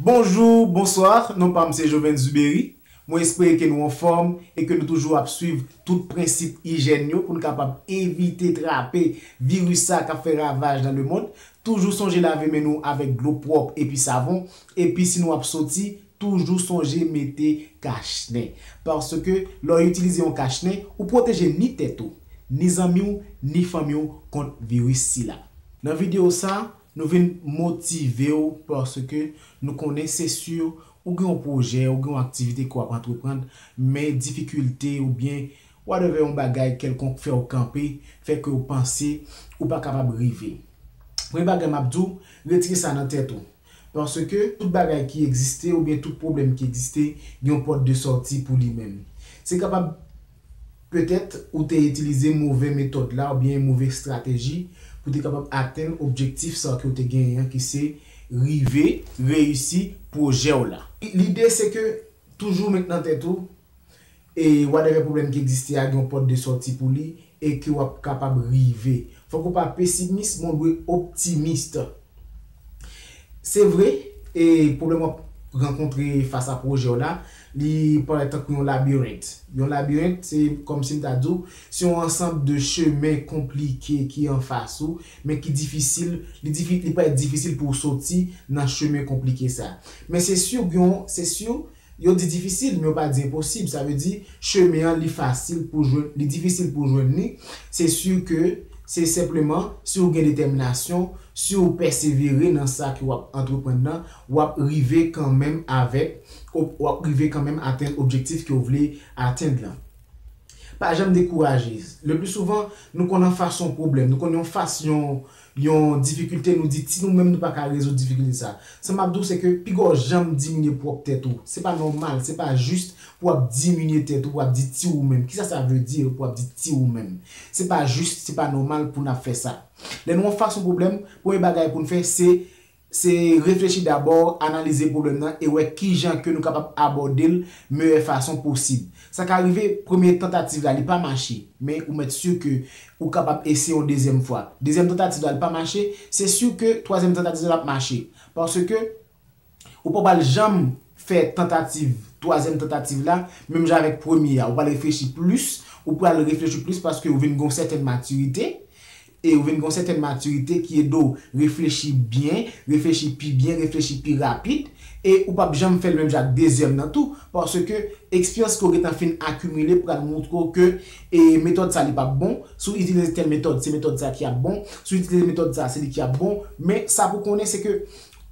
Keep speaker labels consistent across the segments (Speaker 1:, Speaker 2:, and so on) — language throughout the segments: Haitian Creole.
Speaker 1: Bonjour, bonsoir, non pam se Jovens Zuberi, mwen espere ke nou anfòm e ke nou toujou ap swiv tout prensip ijèn yo pou n kapab evite trape viris sa kap fè ravaj nan lemond, toujou sonje lave men nou avèk dlo pwòp epi savon, epi si nou ap soti toujou sonje mete kach nen, paske lè w itilize yon kach nen ou pwoteje ni tèt ou, ni zanmi w, ni fanmi w kont viris sila. Nan video sa, Nou vin motive w paske nou konnen se si ou gen yon pwojè, ou gen yon aktivite ke w ap antreprann, men difikilte oubyen whatever yon bagay kèlkonk fè w kanpe, fè ke w panse ou pa kapab rive. Premye bagay m ap di w, retire sa nan tèt ou. Paske tout bagay ki egziste oubyen tout pwoblèm ki egziste gen yon pòt de sòti pou li menm. Se kapab. Petèt, ou te itilize move metòd la oubyen move estrateji pou te kapab atenn objektif sa a ke w te genyen an ki se rive reyisi pwojè w la. Lide se ke toujou met nan tèt ou e whatever pwoblèm ki egziste a gen yon pòt de sòti pou li e ke w ap kapab rive. Fòk ou pa pesimis men w dwe optimist. Se vre, e pwoblèm w ap rankontre fas a pwojè w la, li parèt tankou yon labirent. Yon labirent, se kòmsi m ta di w, se yon ansanb de chemen konplike ki anfas ou, men ki difisil, li parèt difisil pou w soti nan chemen konplike sa. Men se si, se si Yo di difisil, men yo pa di enposib. Sa vle di, chemen an li fasil pou jwenn, li difisil pou jwenn li. Se si ke, se senpleman, si ou gen detèminasyon, si ou pèsevere nan sa ke w ap antreprann nan, w ap rive kanmenm avèk, w ap rive kanmenm atenn objektif ke w vle atenn lan. Pa janm dekouraje. Le pli souvan, nou konn an fas yon pwoblèm, nou konn yon fas yon, yon difikilte nou di ti nou menm nou pa ka rezoud difikilte sa sa map di w se ke piga w janm diminye pwòp tèt ou se pa nòmal se pa jis pou wap diminye tèt ou pou wap di ti ou menm kisa sa vle di pou wap di ti ou menm se pa jis se pa nòmal pou nap fè sa lè nou an fas yon pwoblèm premye bagay pou n fè se Se reflechi dabò, analize pwoblèm nan e wè kijan ke nou kapab abòde l meyè fason posib. Sa ka rive, premye tantativ la li pa mache, men ou mèt sur ke ou kapab eseye yon dezyèm fwa. Dezyèm tantativ la li pa mache, se sur ke twazyèm tantativ la ap mache. Paske ou pa pral janm fè tantativ, twazyèm tantativ la menm jan avèk premye a. Ou pral reflechi plis, ou pral reflechi plis paske ou vin gen yon sèten matirite e ou vin gen yon sètèn matirite ki ede w reflechi byen, reflechi pi byen, reflechi pi rapid, e ou p ap janm fè l menm jan ak dezyèm nan tou, paske eksperyans ke w gentan fin akimile pral moutre w ke e metòd sa li p ap bon, si w itilize tèl metòd se metòd sa ki ap bon, si w itilize metòd sa se li ki ap bon, men sa pou w konnen se ke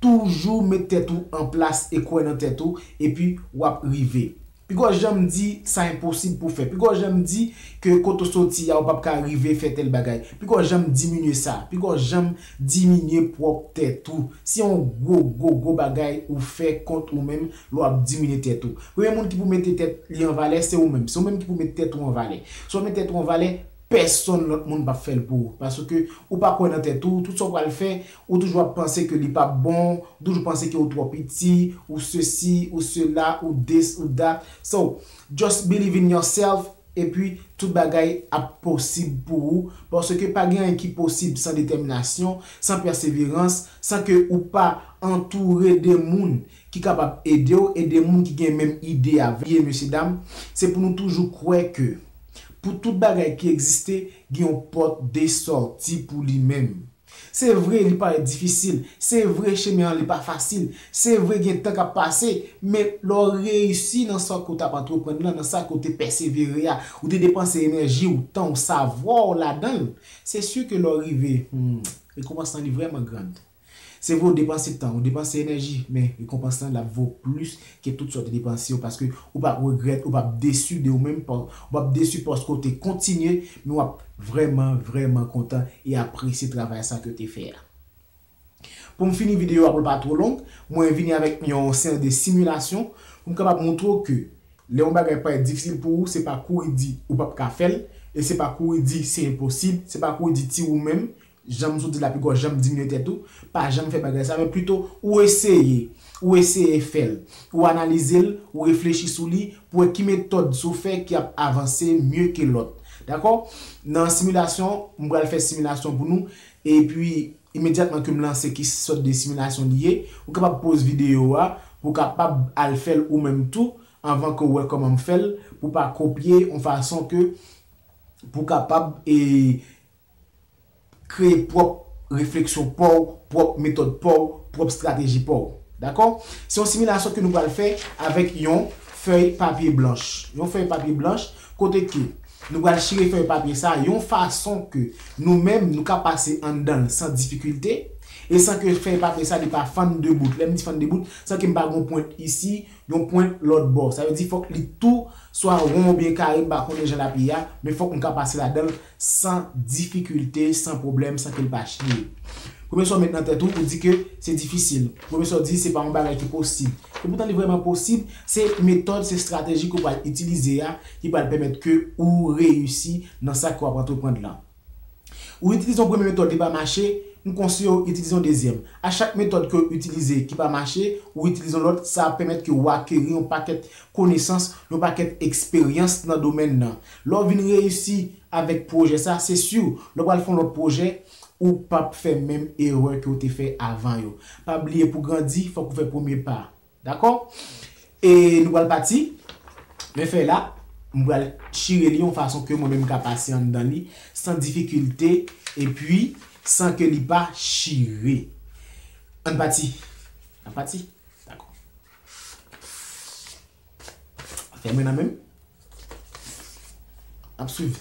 Speaker 1: toujou met tèt ou an plas e kwè nan tèt ou epi w ap rive. Pigaw janm di sa enposib pou fè. Pigaw janm di ke kote w soti ya ou pap ka rive fè tèl bagay. Pigaw janm diminye sa. Pigaw janm diminye pwòp tèt ou. Se yon gwo, gwo, gwo bagay ou fè kont ou menm lè w ap diminye tèt ou. Premye moun ki pou mete tèt li an valè se ou menm. Se ou menm ki pou met tèt ou an valè. Si w pa met tèt ou an valè, pèsonn lòt moun pap fè l pou ou. Paske ou pa kwè nan tèt ou, tout sa w pral fè, Ou toujou ap panse ke li pap bon, ou toujou panse ke ou twò piti, ou sesi, ou sela, ou this, ou that. So, just believe in yourself epi tout bagay ap posib pou ou paske pa gen anyen ki posib san detèminasyon, san pèseverans, san ke ou pa antoure de moun ki kapab ede w e de moun ki gen menm ide avè w. Ebyen mesye dam, se pou nou toujou kwè ke pou tout bagay ki egziste, gen yon pòt de sòti pou li menm. Se vre li parèt difisil, se vre chemen an li pa fasil, se vre gen tan k ap pase, men lè w reyisi nan sa ke w t ap antreprann lan, nan sa ke w te pèsevere a, ou te depanse enèji w, tan w, savwa w ladan l, se si ke lè w rive, hum, rekonpans lan li vrèman grand. Se vre w depanse tan, ou depanse enèji, men rekonpans lan l ap vo plis ke tout sa w te depanse yo paske ou pap regrèt ou pap desu de ou menm pa w ou pap desu paske w te kontinye men wap vrèman vrèman kontan e apresye travay sa ke w te fè a pou m fini videyo a pou l pa two long mwen vini avèk yon seri de similasyon pou m kapab montre w ke lè yon bagay parèt difisil pou ou se pa kouri di ou pap ka fè l e se pa kouri di se enposib se pa kouri di ti ou menm Jan m sot di la piko w janm diminye tèt ou, pa janm fè bagay sa men pito ou eseye, ou eseye fè l, ou analize l, ou reflechi sou li pou wè ki metòd sou fè ki ap avanse mye ke lòt. Dakò? Nan similasyon, m pral fè similasyon pou nou epi imedyatman ke m lanse ki sòt de similasyon li ye, ou kapab poz videyo a pou w kapab al fè l ou menm tou anvan ke w wè kòman m fè l pou w pa kopye yon fason ke pou w kapab e Kreye pwòp refleksyon pa w, pwòp metòd pa w, pwòp strateji pa w. Dakò? Se yon similasyon ke nou pral fè avèk yon fèy papye blanch. Yon fèy papye blanch kote ke nou pral chire fèy papye sa a yon fason ke nou menm nou ka pase anndan l san difikilte e san ke fèy papye sa li pa fann de bout. Lè m di fann de bout, san ke m pa gen yon pwent isi, Yon pwent lòt bò. Sa vle di fòk li tou swa won oubyen kare m pa konnen jan l ap ye a, men fòk m ka pase ladan l san difikilte, san pwoblèm, san ke l pa chiye. Pwofesè w met nan tèt ou, ou di ke se difisil. Pwofesè w di se pa yon bagay ki posib. Epoutan li vrèman posib, se metòd, se estrateji ke w pral itilize a ki pral pèmèt ke ou reyisi nan sa ke w ap antreprand lan. Ou itilize yon premye metòd li pa mache, m konseye w itilize yon dezyèm. A chak metòd ke w itilize ki pa mache, ou itilize yon lòt, sa ap pèmèt ke ou akeri yon pakèt konesans, yon pakèt eksperyans nan domèn nan. Lè w vin reyisi avèk pwojè sa, se si w, lè w pral fè yon lòt pwojè, ou p ap fè menm erè ke w te fè avan yo. Pa bliye pou grandi, fòk ou fè premye pa. Dakò? E nou pral pati. Men fèy la, m pral chire li yon fason ke mwen menm m ka pase anndan li san difikilte epi san ke li pa chire. Ann pati. Nap pati? Dakò. Afè mwen nan menm. Nap swiv.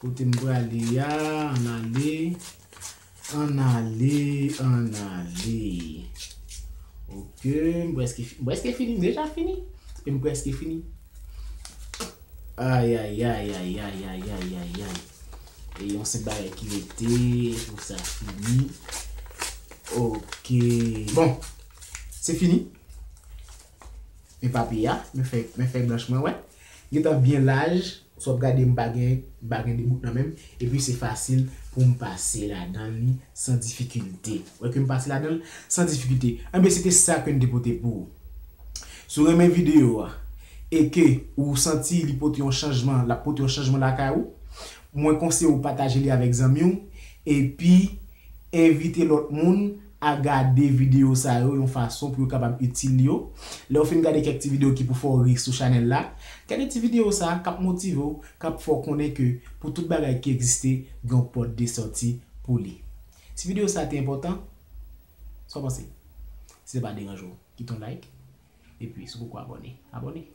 Speaker 1: Kote m prale a, ann ale, ann ale, ann ale. Ok, m prèske fini, m prèske fini, m deja fini? Epi m prèske fini? Ayayayayayayayayayayay. E yon senp bagay ki rete pou sa fini. Ok, bon, se fini. Men papi a, men fèy blanch mwen wè. Li gentan byen laj, si w ap gade m pa gen m pa gen 2 bout nan men m, epi se fasil pou m pase ladan li san difikilte. Ou wè ke m pase ladan l san difikilte. Enben se te sa ke n te pote pou ou. Si w renmen videyo a e ke ou santi li pote yon chanjman, l ap pote yon chanjman lakay ou, mwen konseye ou pataje li avèk zanmi w epi envite lòt moun a gade videyo sa yo yon fason pou yo kapab itil yo. Lè w fin gade kèk ti videyo ki pou fè w ri sou chanèl la, gade ti videyo sa a k ap motive w, k ap fè w konnen ke pou tout bagay ki egziste gen yon pòt de sòti pou li. Si videyo sa a te enpòtan, sa w panse? Si sa pa deranje w, kite yon like, epi si w poko abòne, abòne.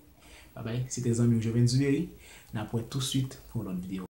Speaker 1: Babay, se te zanmi w Jovenn Zuberi, n ap wè tousuit pou yon lòt videyo.